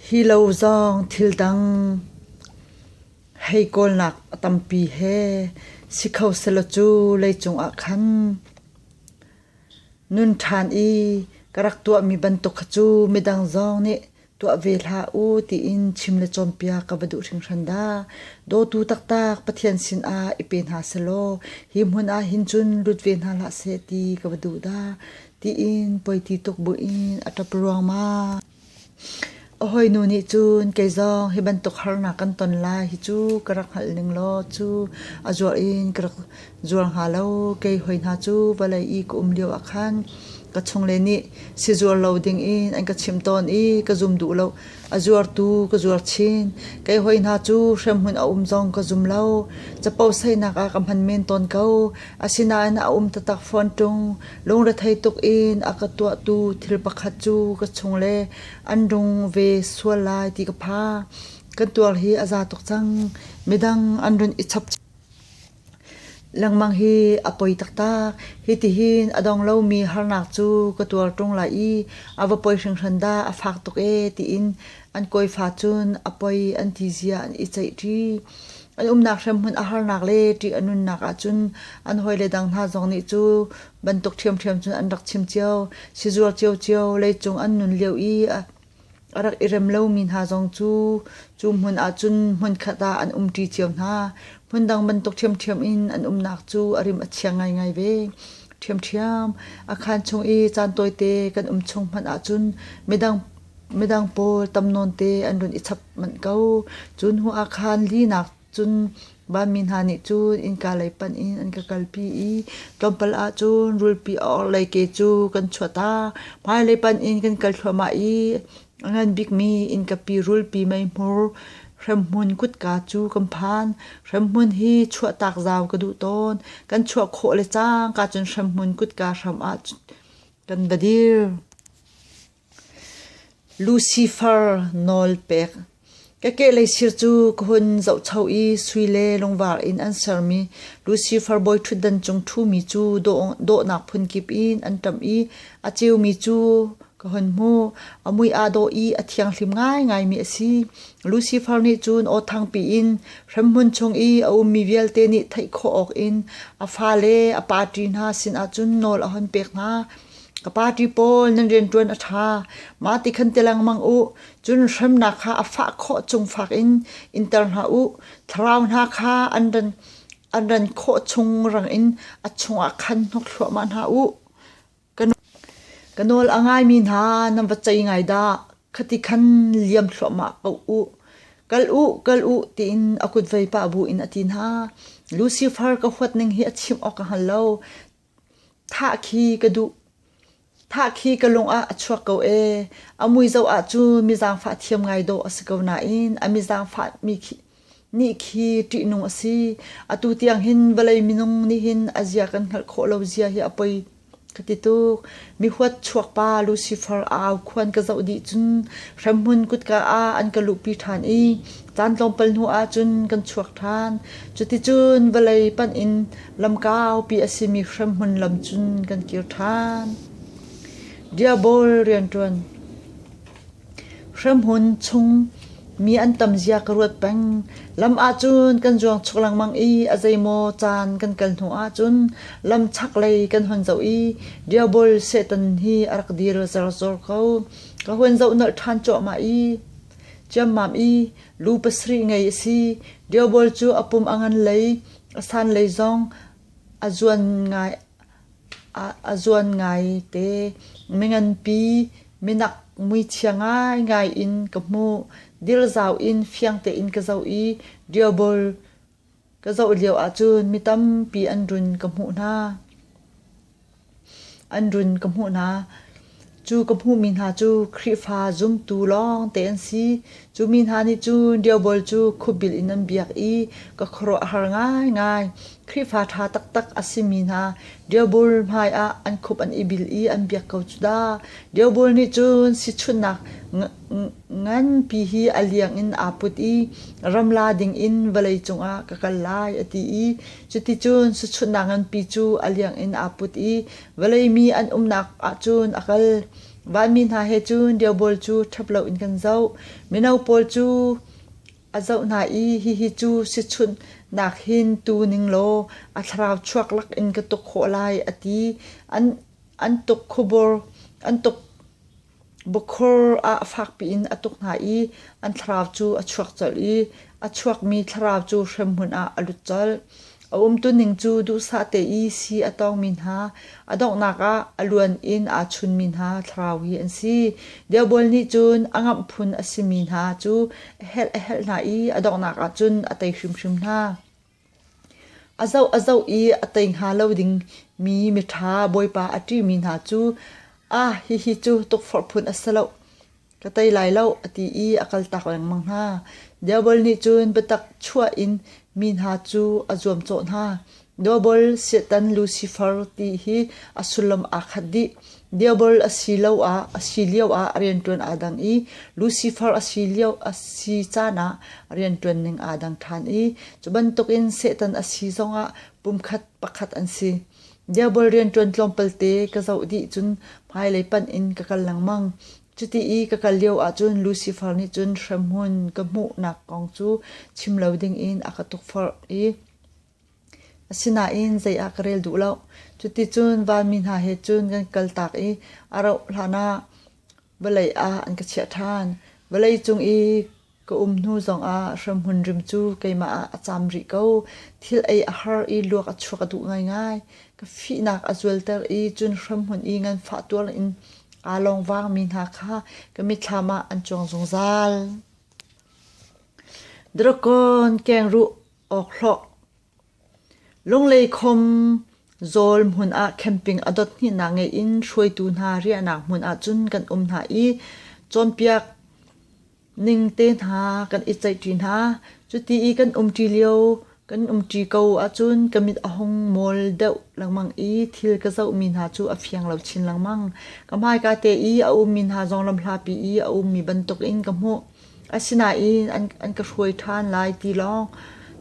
Hi lo zong thildang hei kawlnak a tampi he si kho selaw cu leicung ah khan nun ṭhan i ka rak tuahmi bantuk kha cu midang zong nih. tuah ve hlah u tiin chim le cawnpiak ka va duh hringhran dah. Dawtu taktak Pathian sinah i pe hna selaw hi hmun ah hin cun lut ve hna hlah seh ti ka va duh dah. Tiin poiti tuk buin a ṭap ruangmang. A hawinu nih cun kei zong hi bantuk harnak kan ton lai hi cu ka rak hngalh ning law cu a zuar in ka rak Zual hnga lo kei hoi hna cu vawlei i ka um lio ah khan ka chungle nih si zual lo ding in an ka chimh tawn i ka zum duh lo. A zuartu ka zuar chin. Kei hoi hna cu hremhmun a um zong ka zum lo. Caposainak ah ka hman men tawn ko. Asinain a um taktak fawn ṭung. Lungrethei tuk in a ka tuahtu thil pakhat cu ka chungle an rung ve sual lai ti ka pha. Kan tuar hi a za tuk cang. Midang an run i chap Lengmang hi a poi taktak. Hitihin a dong lomi harnak cu ka tuar ṭung lai i a va poi hringhran dah a fak tuk ee tiin an kawifa cun a poi an ti zia an i ceih ṭi. An umnak hremhmun a harnak le ṭih a nunnak ahcun an hawile dang hna zong nih cu bantuk ṭhiamṭhiam cun an rak chim cio. Sizuar ciocio leicung an nun lio i A rak i rem lomi hna zong cu cu hmun ahcun hmunkhat ah an umṭi cio hna. Hmundang bantuk ṭhiamṭhiam in an umnak cu a rim a chia ngaingai ve. Ṭhiamṭhiam. A khaan chung i caan tawite kan um chung hmanh ahcun midang midang pawl tam nawnte an run i chap manh ko. Cu hnu ah khan linak Cun vanmi hna nih cun innka lei panh in an ka kalpi i tlawmpal ah cun rulpi a orhlei ke cu kan chuah ta. Hmailei panh in kan kal thluahmah i a ngan bikmi innkapi rulpi meihmur hremhmun kutka cu kan phan. Hremhmun hi chuahtak zau ka duh tawn. Kan chuah khawh le cangka cun hremhmun kutka hram ah kan va dir. Lucifer nawl pek. Ka kehlei sir cu ka hun zohcho i sui le lungvar in an sermi Lucifer bawiṭhutdan cung ṭhumi cu dawhnak phunkip in an ṭamh i a ceumi cu ka hun hmuh. A mui aa dawh i a thianghlim ngaingaimi a si. Lucifer nih cun awthangpi in hremhmun chung i a ummi vialte nih theih khawh awkin a fale a pa ṭi hna sinah cun nawl a hun pek hna. Ka party pawl nan rianṭuan a ṭha. Mah ti khan ti lengmang u. Cun hremnak kha a fah khawh chung fak in inter hna u. Thlarau hna kha an ran, an ran khawh chung rang in a chungah khan hnok thluahmah hna u. Ka nawl a ngaimi hna nan va cei ngai dah. Khati khan liam thluahmah ko u. Kal u, kal u tiin a kutvei pah bu in a ti hna. Lucifer ka huat ning hi a chim awk a hngal lo. Thahkhi ka lung ah a chuak ko ee. A mui zoh ah cu mizaangfah thiam ngai dawh a si ko nain a mizaangfahmi nih khi ṭihnung a si. Atu tiang hin vawlei minung nih hin a zia kan hngalh khawh lo zia hi a poi ka ti tuk. mihuat chuakpa Lucifer a au khuan ka zoh dih cun hremhmun kutka ah an ka luhpi ṭhan i caan tlawmpal hnu ah cun kan chuak ṭhan. Cuticun vawlei panh in lam kaupi a simi hremhmun lam cun kan kir ṭhan. Diabol rianṭuan Hramhun chung mi an tam zia ka ruat peng. Lam ahcun kan zuang chuk lengmang i a zeimaw caan kan kal hnu ahcun lam chak lei kan hun zoh i diabol Satan hi a rak dir zerzor ko. Ka hun zoh nolh ṭhan cuahmah i ciammam i lu pasarih ngei a si. Diabol cu a pum a ngan lei, a san lei zong a zuan ngai. ah a zuan ngai te. Mi nganpi minak muichia ngaingai in ka hmuh. Dilzau in fiang tein ka zoh i diobol ka zoh lio ahcun mi tampi an run ka hmuh hna. An run ka hmuh hna. Cu ka hmuhmi hna cu Khrihfa zumtu lawngte an si. Cu mi hna nih cun Diovel cu khupbil in an biak i ka khuaruah a har ngaingai. Khrihfa ṭha taktak a simi hna Diovel hmaiah an khup an i bil i an biak ko cu dah. Diovel nih cun sichunhnak nganpi hi a liang in aa put i ram la dingin vawlei cungah ka kal lai a ti i cuticun sichunhnak nganpi cu a liang in aa put i Vawlei mi an umnak ahcun a kal. Vanmi hna he cun diobawl cu ṭhap loin kan zoh. Mino pawl cu a zoh hna i hihi cu sichunhnak hin tu ning law a thlarau chuak lakin ka tuk khawh lai a ti. An an tuk khubur an tuk Bukhur ah fakpi in a tuk hna i an thlarau cu a chuak colh i a chuakmi thlarau cu hremhmun ah a lut colh. A umtuning cu duhsah te i si a tawngmi hna, a donghnak ah a luan in aa chunmi hna thlarau hi an si. Diabola nih cun a ngamh phun a simi hna cu a helh a helh hna i a donghnak ah cun a tei hrimhrim hna. A zoh a zoh i a tei hnga lo ding mi miṭha Bawipa a ṭimi hna cu, aa hihi cu tukforh phun a si lo, ka tei lai lo, a ti i a kaltak lengmang hna. Diabol nih cun biatak chuah in mi hna cu a zuamcawh hna. Diabol, Satan, Lucifer ti hi a sullam aa khat dih. Diabol asiloah a si lioah a rianṭuan aa dang i Lucifer a si lio a si caan ah a rianṭuan ning aa dang ṭhan i cu bantukin Satan a si zongah pumkhat pakhat an si. Diabol rianṭuan tlawmpalte ka zoh dih cun hmailei panh in ka kal lengmang. Cuti i ka kal lio ahcun Lucifer nih cun hremhmun ka hmuhnak kong cu chim lo dingin a ka tukforh i Asinain zei ah ka rel duh lo. Cuticun vanmi hna he cun kan kaltak i a rauh hlanah vawlei ah an ka chiah ṭhan. Vawlei cung i ka um hnu zongah hremhmun rim cu keimah ah a cam rih ko. Thil ei a har i luak a chuak a duh ngaingai. Ka fihnak a zualter i cun hremhmun i nganfah tuar in aa lawngvangmi hna kha ka mitthlam ah an cuang zungzal. Drakon keng ruh awk hlawh. Lunglei khom Zawl hmun ah camping a dot hna ngei in hruaitu hna riahnak hmun ah cun kan um hna i cawnpiak ning te hna kan i ceihṭi hna. Cuti i kan um ṭi lio kan um ṭi ko ahcun ka mit a hung mol deuh lengmang i thil ka zohmi hna cu a fiang lo chin lengmang. Ka hmaika te i a ummi hna zong lamhlapi i a ummi bantuk in ka hmuh. Asinain an ka hruai ṭhan lai ti lawng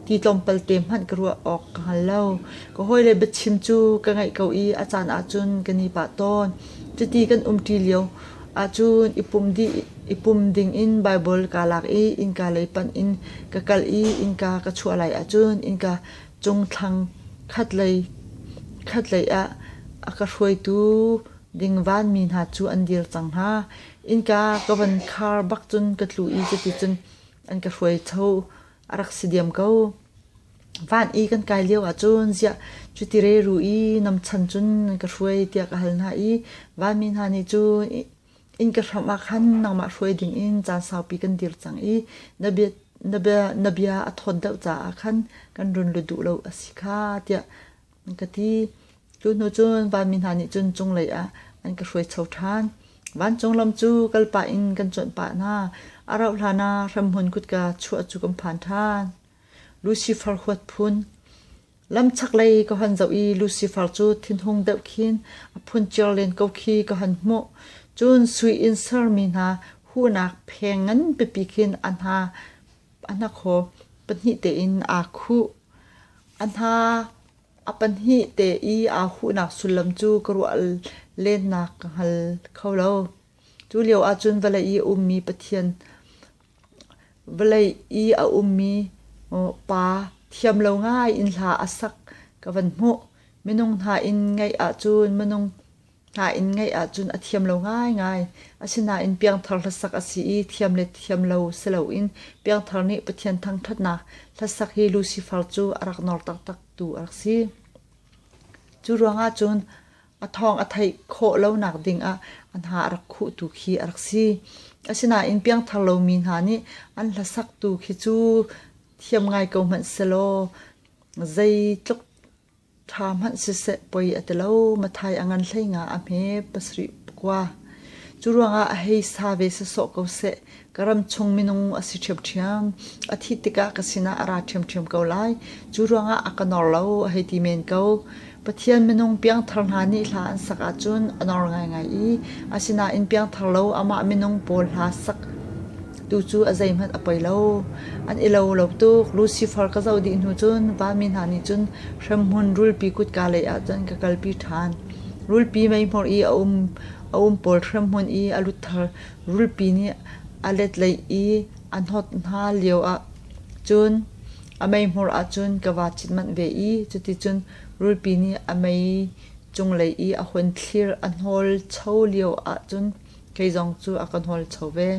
ti tlawmpal te hmanh ka ruah awk ka hngal lo. Ka hawile biachim cu ka ngaih ko i a caan ahcun kan i pah tawn. Cuti kan umṭi lio ahcun i pum dih i pum dingin Baibal kaa lak i innka lei panh in ka kal i innka ka chuah lai ahcun innka cung thlang khatlei khatlei ah a ka hruaitu ding vanmi hna cu an dir cang hna. Innka ka van khar bak cun ka tlu i cuticun an ka hruaitho a rak si diam ko. Van i kan kai lio ahcun ziah cuti reru i namchan cun nan ka hruai tiah ka hal hna i vanmi hna nih cu inn ka hram ah khan nangmah hruai ding in caan saupi kan dir cang i na bia, na bia, na bia a thawt deuh caah khan kan run lut duh lo a si kha tiah an ka ti. Cu hnu cun vanmi hna nih cun cunglei ah an ka hruaicho ṭhan. Vancung lam cu kal pah in kan cuanh pah hna. A rauh hlan ah hramhmun kutka chuah cu kan phan ṭhan. Lucifer huat phun Lam chaklei ka hon zoh i Lucifer cu thinhung deuh khin a phun cer len ko khi ka hon hmuh. Cun sui in sermi hna huhnak pheng ngan pipi khin a hna a hnakhaw pahnih tein aa khuh. A hna a pahnih te i aa huhnak sullam cu ka ruah lennak ka hngal kho lo. Cu lio ahcun vawlei i a ummi Pathian, vawlei i a ummi Pa thiam lo ngai in hla a sak ka van hmuh. Minung hna in ngaih ahcun minung Hna inn ngeih ahcun a thiam lo ngaingai. Asinain piangthar hlasak a si i thiam le thiam lo si loin piangthar nih Pathian thangṭhatnak hlasak hi Lucifer cu a rak nawr taktaktu a rak si. Cu ruangah cun a thawng a theih khawh lonak dingah a hna a rak khuhtu khi a rak si. Asinain piangthar lomi hna nih an hlasaktu khi cu thiam ngai ko hmanh sehlaw zeitluk Ṭha hmanh siseh poi a ti lo. Mathai a ngan hleinga a hme pasarih kua. Cu ruangah a hei sa ve sasawh ko seh. Ka ram chung minung a si ṭhiamṭhiam. A thih tikah ka sinah a ra ṭhiamṭhiam ko lai. Cu ruangah a ka nor lo a hei ti men ko. Pathian minung piangthar hna nih hla an sak ahcun a nor ngaingai i, asinain piangthar lo amah minung pawl hla sak Tucu a zeihmanh a poi lo. An i lo lo tuk. Lucifer ka zoh dih hnu cun vami hna nih cun hremhmun rulpi kutka lei ah cun ka kalpi ṭhan. Rulpi meihmor i a um a um pawl hremhmun i a luthar rulpi nih a letleih i a hnawt hna lio ah cun a meihmor ah cun ka vaa cit manh ve i cuticun rulpi nih a mei cunglei i a hun thlir. A hnawl cho lio ah cun Kei zong cu a ka hnawlcho ve.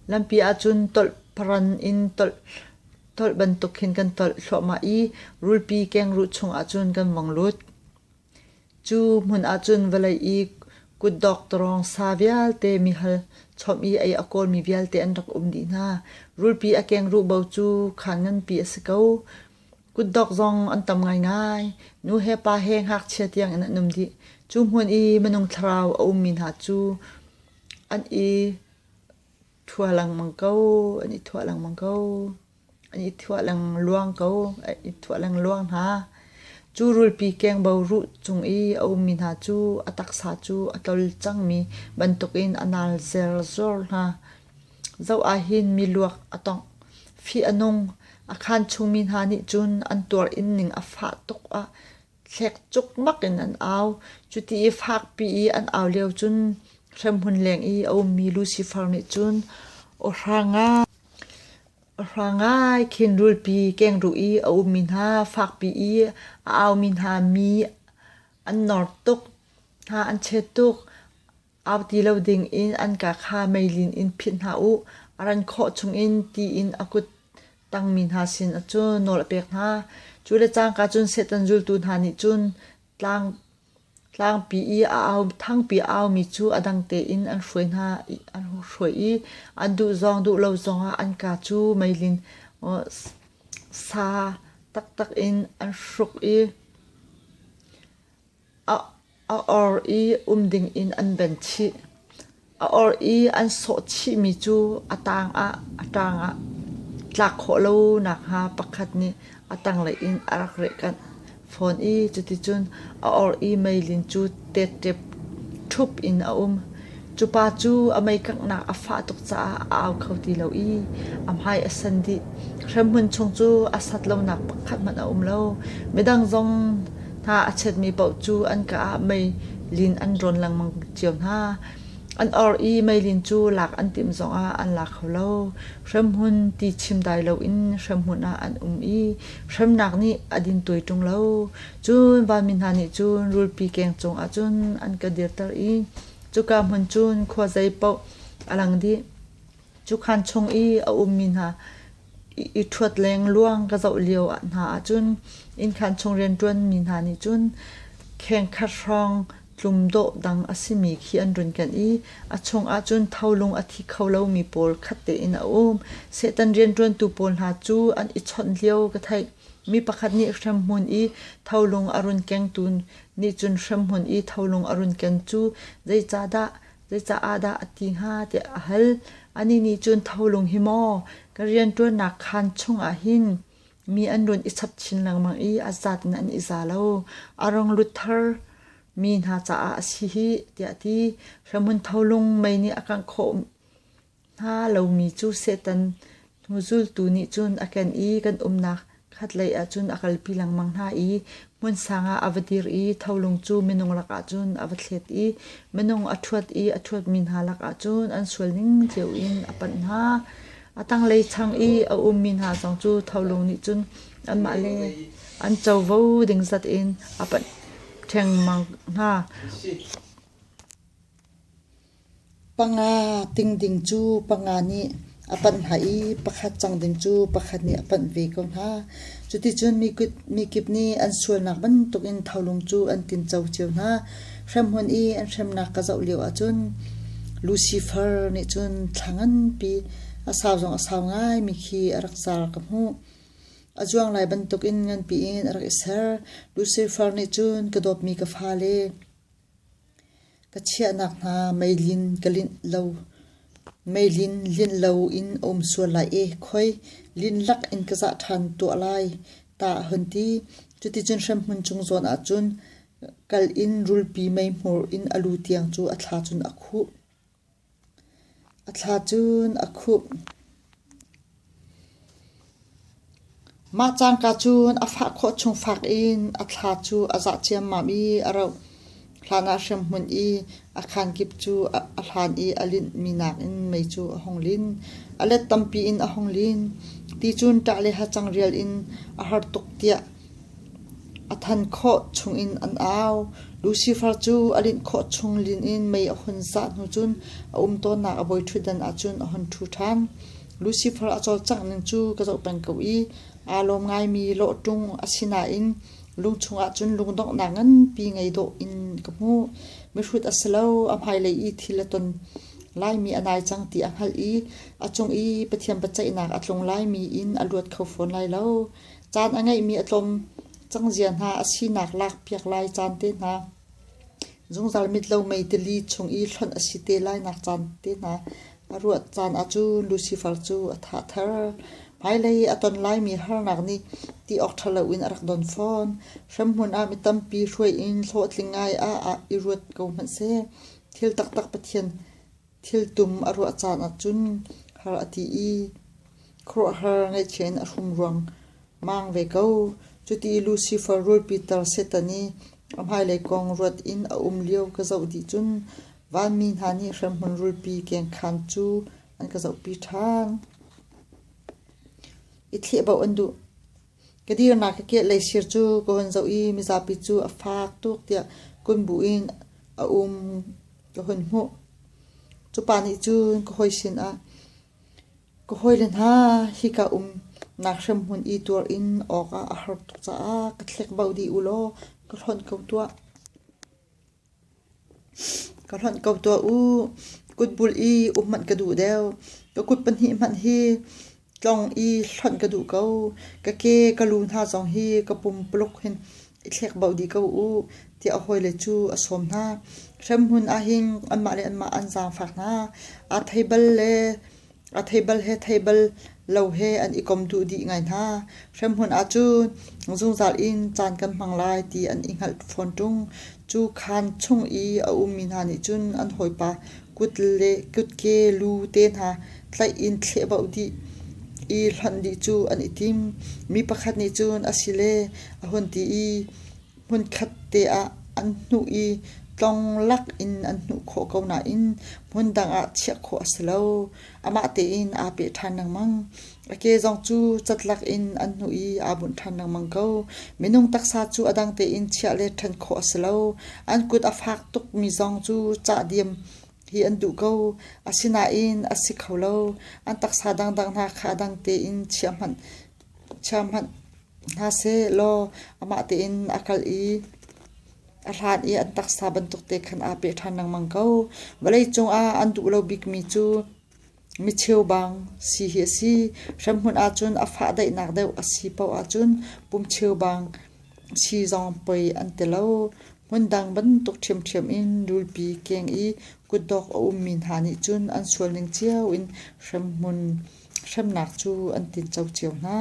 Lampi ahcun tolh paran in tolh, tolh bantuk hin kan tolh thluahmah i rulpi kengruh chungah cun kan vong lut. Cu hmun ahcun vawlei i kutdawk tarawng sa vialte mihal chawm i ei a kawlmi vialte an rak um dih hna. Rulpi a kengruh bo cu khaan nganpi a si ko. Kutdok zong an tam ngaingai. Nu he pa he ngakchia tiangin an um dih. Cu hmun i minung thlarau a ummi hna cu an i thua lengmang ko, an i thua lengmang ko, an i thua lengluang ko, an i thua lengluang hna. Cu rulpi kengbo ruh cung i a ummi hna cu a taksa cu a tlol cangmi bantukin a nalzer zuar hna. Zoh ahhin miluak a tongh, fih a nung, a khanchungmi hna nih cun an tuar in ning a fah tuk ah thlek cukmak in an au. Cuti i fakpi i an au lio cun hremhmun leng i a ummi Lucifer nih cun awhra ngai, awhra ngai khin rulpi keng ruh i a ummi hna, fakpi i a aumi hna mi an nawr tuk, hna an chet tuk. Auti lo dingin an ka kha meilin in phit hna u, a ran khawh chungin tiin a kut tangmi hna sin cu nawl a pek hna. Cu le cangka cun Satan zultu hna nih cun tlang tlangpi i a au thangpi a aumi cu a dang tein an hruai hna i an hruai i an duh zong duh lo zongah an ka cu meilin sa taktak in an hruk i A or i um dingin an ben chih. A or i an sawh chihmi cu a tangah a tangah tlak khawh lo nakhnga pakhat nih a tanglei in a rak rehkanh fawn i cuticun a or i meilin cu tettep thup in a um. Cupa cu a meikanghnak a fah tuk caah a au kho ti lo i a hmai a sen dih. Hremhmun chung cu a sat lonak pakhat hmanh a um lo. Midang zong hna a chetmi paoh cu an ka ah meilin an rawn lengmang cio hna. An or i meilin cu lak an timh zongah an la kho lo. Hremhmun ti chim dai loin hremhmun ah an um i hremnak nih a din tuai ṭung lo. Cun vanmi hna nih cun rulpi keng cungah cun an ka dirter i Cuka hmun cun khua zei paoh a lang dih. Cukan chung i a ummi hna i ṭhuat leng luang ka zoh lio ah hna ahcun innkhan chung rianṭuanmi hna nih cun khengkhat hrawng tlum dawh dang a simi khi an run kenh i a chungah cun tholung a thi kho lomi pawl khat tein a um. Satan rianṭuantu pawl hna cu an i chawnh lio ka theih. Mi pakhat nih hremhmun i tholung a run kengtu nih cun hremhmun i tholung a run ken cu zeicahdah zeicaah dah a ti hnga tiah a hal. Anih nih cun tholung hi maw ka rianṭuannak khaan chungah hin mi an run i chap chin lengmang i a zat in an i za lo. A rung lut thar mi hna caah a si hi tiah a ti. Hremhmun tholung mei nih a kangh khawh Hna lomi cu Satan hnuzultu nih cun a ken i kan umnak khatlei ah cun a kalpi lengmang hna i hmunsang ah a va dir i tholung cu minung lakah cun a va thlet i minung a ṭhuat i a ṭhuatmi hna lakah cun an sualning cio in a panh hna. A tanglei chang i a ummi hna zong cu tholung nih cun anmah le an covo ding zat in a panh thengmang hna. Panga ting ding cu panga nih a panh hna i pakhat cang ding cu pakhat nih a panh ve ko hna. Cuticun mikip, mikip nih an sualnak bantuk in tholung cu an tinco cio hna. Hremhmun i an hremnak ka zoh lio ahcun Lucifer nih cun thla nganpi a sau zong a sau ngaimi khi a rak car ka hmuh. A zuang lai bantuk in nganpi in a rak i ser. Lucifer nih cun ka dawtmi ka fale, Ka chiahnak hna meilin ka linh lo, meilin linh loin a um sual lai ee khoi lin lak in ka zah ṭhan tuah lai ta a hun ti. Cuticun hremhmun cung zawn ahcun kal in rulpi meihmur in a lu tiang cu a thla cun a khuh. A thla cun a khumh. Mah cangka cun a fah khawh chung fak in a thla cu a zah ciammam i a roh. Hlan ah hremhmun i a khaan kip cu a hlan i a linhmi nakin mei cu a hung lin. A let tampi in a hung lin. Ti cun ṭah le hacang rial in a har tuk tiah A than khawh chungin an au. Lucifer cu a linh khawh chung linin mei a hun zah hnu cun a um tawnnak a voiṭhutdan ahcun a hun ṭhu ṭhan. Lucifer a cawlcangh ning cu ka zoh peng ko i aa lawm ngaimi lawhṭung a si nain lung chungah cun lungdonghnak nganpi ngei dawh in ka hmuh. Mihrut a si lo, a hmailei i thil a ton laimi a nai cang ti a hngalh i a cung i Pathian biaceihnak a tlung laimi in a luat kho fawn lai lo. Caan a ngeihmi a tlawm cang zia hna a sinak lakpiak lai caan te hna, zungzal mitlo mei tili chung i hlonh a si te lainak caan te hna, a ruat caan ah cu Lucifer cu a tha thar. Hmailei a ton laimi harnak nih ti awk ṭha loin a rak don fawn. Hremhmun ah mi tampi hruai in hlawhtling ngai ah i ruat ko hmanh seh. Thil taktak Pathian Thiltum a ruah caan ahcun har a ti i khuaruahhar ngaihchia in a hrum ruangmang ve ko. Cuti i Lucifer rul pitar Satan i a hmailei kong ruat in a um lio ka zoh dih cun vanmi hna nih hremhmun rulpi kengkhan cu an ka zohpi ṭhan. I thlehbauh an duh. Ka dirnak ka kehlei sir cu ka hun zoh i mizapi cu a faak tuk tiah kun bu in a um ka hun hmuh. Cupa nih cun ka hawi sinah, Ka hawile hna, hika umnak hremhmun i tuar in awkah a har tuk caah ka thlek bau dih u law ka hlonh ko tuah. Ka hlonh ko tuah u. Kut bul i um hmanh ka duh deuh. Ka kut pahnih hmanh hi tlong i hlonh ka duh ko. Ka ke ka lu hna zong hi ka pumpuluk hin i thlek bauh dih ko u tiah a hawile cu a sawm hna. Hremhmun ahhin anmah le anmah an zaangfak hna. Aa thei bal le A theibal he theibal lo he an i kom duh dih ngai hna. Hremhmun ahcun zungzal in caan kan hmang lai ti an i hngalh fawn ṭung. Cu khaan chung i a ummi hna nih cun an hawipa kut le kutke lu te hna tlaih in thlehbauh dih i hlonh dih cu an i tim. Mi pakhat nih cun a sile a hun ti i, hmunkhat te ah an hnuh i tlong lak in an hnuh khawh ko nain hmun dang ah chiah khawh a si lo. Amah tein aa peh ṭhan lengmang. A ke zong cu catlak in an hnuh i aa bunh ṭhan lengmang ko. Minung taksa cu a dang tein chiah le ṭhen khawh a si lo. An kut a fak tukmi zong cu cah diam hi an duh ko. Asinain a si kho lo. An taksa dangdang hna kha a dang tein chia hmanh, chia hmanh hna seh law amah tein a kal i a hlan i an taksa bantukte khan aa peh ṭhan lengmang ko. Vawlei cungah an duh lo bikmi cu micheu bang si hi a si. Hremhmun ahcun a fah daihnak deuh a si paoh ahcun pumcheu bang si zong poi an ti lo. Hmundang bantuk ṭhiamṭhiam in rulpi keng i kutdok a ummi hna nih cun an sualning cio in hremhmun hremnak cu an tinh co cio hna.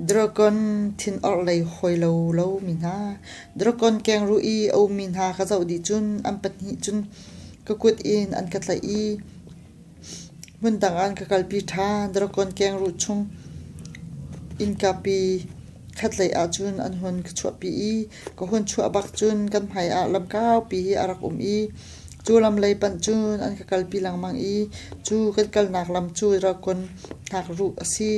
Dragon thin orhlei hawi lo lomi hna, Dragon keng ruh i a ummi hna ka zoh dih cun an pahnih cun ka kut in an ka tlaih i hmundang ah an ka kalpi ṭhan. Dragon keng ruh chung innkapi ka tlaih ahcun an hun ka chuahpi i ka hun chuah bak cun kan hmaiah lam kaupi a rak um i Cu lam lei panh cun an ka kalpi lengmang i cu kan kalnak lam cu Dragon hnakruh a si.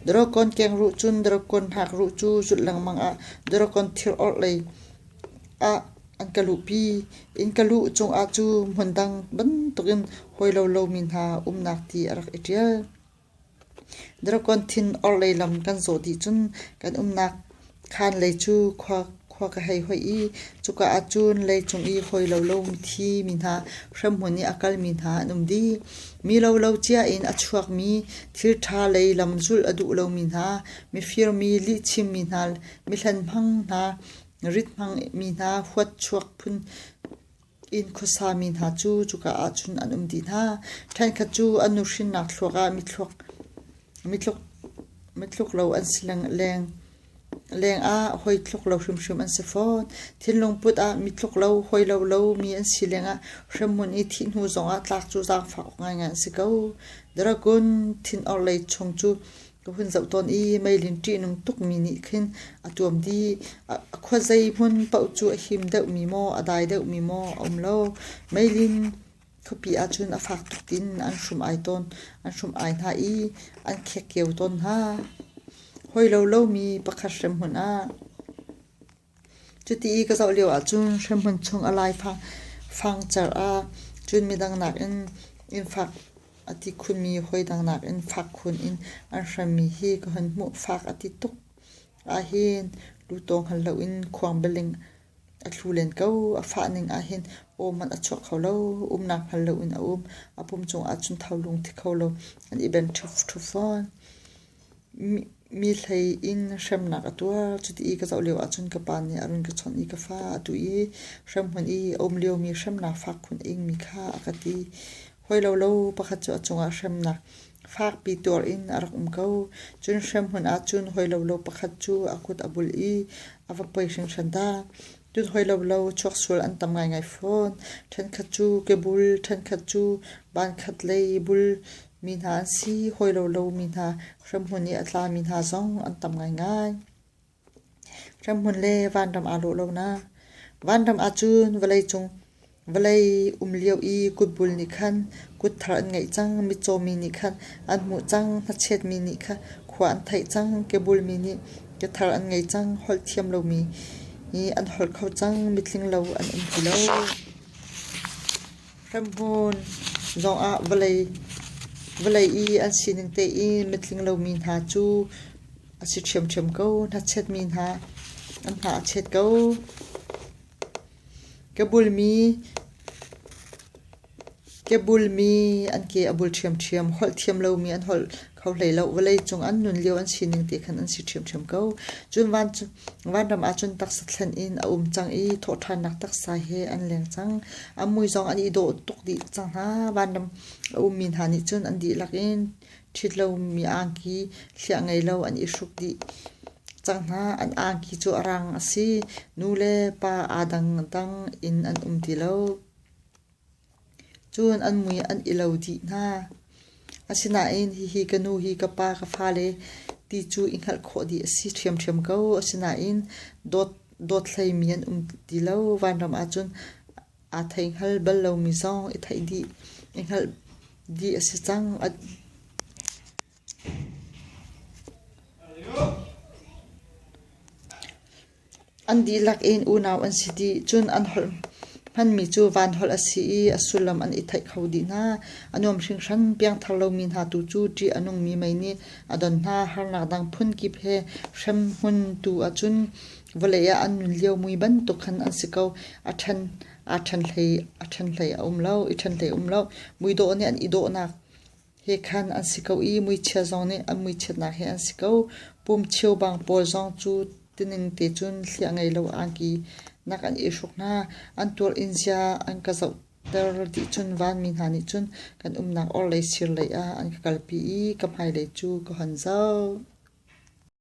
Dragon kengruh cun Dragon hnakruh cu zulh lengmang ah Dragon thirorh lei ah an ka luhpi. Inn ka luh cungah cu hmun dang bantukin hawilo lomi hna umnak ti a rak i ṭial. Dragon thin orhlei lam kan zawh dih cun kan umnak khaanlei cu khua ka hei hoih i cuka ahcun leicung i hawi lo lo thi mi hna, hremhmun i a kal mi hna an um dih. Mi lo lo cia in a chuak mi, thilṭha lei lam zulh a duh lo mi hna, mifir mi, lihchim mi hna, mihlen hmang hna, rit hmang mi hna, huat chuak phun. Inn khuasa mi hna cu cuka ahcun an um dih hna. Ṭhenkhat cu an nuhrinnak thluak ah mitluk lo an si leng. Lengah hawi tluk lo hrimhrim an si fawn. Thinlung put ah mitluk lo, hawi lo lo mi an si lengah hremhmun i thih hnu zongah tlak cu zaangfak ngaingai an si ko. Dragon thin orhlei chung cu Ka hun zoh tawn i meilin ṭihnung tukmi nih khin a ṭuam dih. A khua zeihmun paoh cu a him deuhmi maw, a dai deuhmi maw a um lo. Meilin khuapi ahcun a fak tuk in an hrum ai tawn. An hrum ai hna i an khekkeu tawn hna. Hawilo lomi pakhat hremhmun ah. Cuti i ka zoh lio ahcun hremhmun chung a laifangcar ah cun midang nakin inn fak a ti khunmi hawidang nakin fak khun in an hremmi hi ka hun hmuh. Fak a ti tuk ahhin lutawng hngal loin khuang bialing a tlu len ko. A fah ning ahhin aw hmanh a chuak kho lo. Umnak hngal loin a um. A pum cungah cun tholung thi kho lo. An i benh ṭhufṭhuf fawn. Mi hlei in hremnak a tuar. Cuti i ka zoh lio ahcun ka pa nih a run ka chawnh i ka fa a tuh i hrem hmanh i a um liomi hremnak fak khun a ingmi kha a ka ti. Hoi lo lo pakhat cu a cungah hremnak fakpi tuar in a rak um ko. Cun hrem hmun ahcun hoi lo lo pakhat cu a kut a bulh i a va poi hringhran ta. Cun hoi lo lo chuaksual an tam ngaingai fawn. Ṭhenkhat cu kebul, ṭhenkhat cu bankhat lei bul Mi hna an si, hawi lo lomi hna, hremhmun i a tlami hna zong an tam ngaingai. Hremhmun le vanram aa lawh lonak. Vanram ahcun vawlei cung vawlei um lio i kutbul nih khan kutthar an ngeih cang, mitcaw mi nih khan an hmuh cang, hnachet mi nih khan khua an theih cang, kebul mi nih kethar an ngei cang, holh thiam lomi an holh kho cang, mitling lo an um ti lo. Hremhmun zongah vawlei vawlei i an sining tein mitling lomi hna cu a si ṭhiamṭhiam ko. Hnachetmi hna an hna a chet ko. Ka bulmi ke bulmi an ke a bul ṭhiamṭhiam. Holh thiam lomi an holh kho hlei lo. Vawlei cung an nun lio an sining te khan an si ṭhiamṭhiam ko. Cun van cu vanram ahcun taksa thlen in a um cang i thawhṭhannak taksa he an leng cang. A mui zong an i dawh tuk dih cang hna. Vanram a ummi hna nih cun an dihlak in ṭhit lomi angki hliah ngei lo an i hruk dih cang hna. An angki cu a rang a si. Nu le pa aa dangdang in an um ti lo. Cun an mui an i lo dih hna. Asinain hihi ka nu hi ka pa ka fale ti cu i hngalh khawh dih a si ṭhiamṭhiam ko. Asinain dawt, dawt hleimi an um ti lo. Vanram ahcun aa thei hngal bal lomi zong i theih dih, i hngalh dih a si cang. An dihlak in unau an si dih, cun an holh hmanmi cu vanholh a si i a sullam an i theih kho dih hna. A nuam hringhran. Piangthar lomi hna tu cu ṭih a nungmi mei nih a don hna. Harnak dang phunkip he hremhmun tu ahcun vawlei ah an nun lio mui bantuk khan an si ko. A ṭhen, aa ṭhen hlei, a ṭhen hlei a um lo, i ṭhen hlei a um lo. Mui dawh nih an i dawhnak Hi khan an si ko i muichia zong nih an muichiatnak hi an si ko. Pum cheumbang pawl zong cu tining te cun hliah ngei lo angki nak an i hruk hna. An tuar in zia an ka zohter dih cun vanmi hna nih cun kan umnak orhlei sir lei ah an ka kalpi i ka hmailei cu ka hon zoh.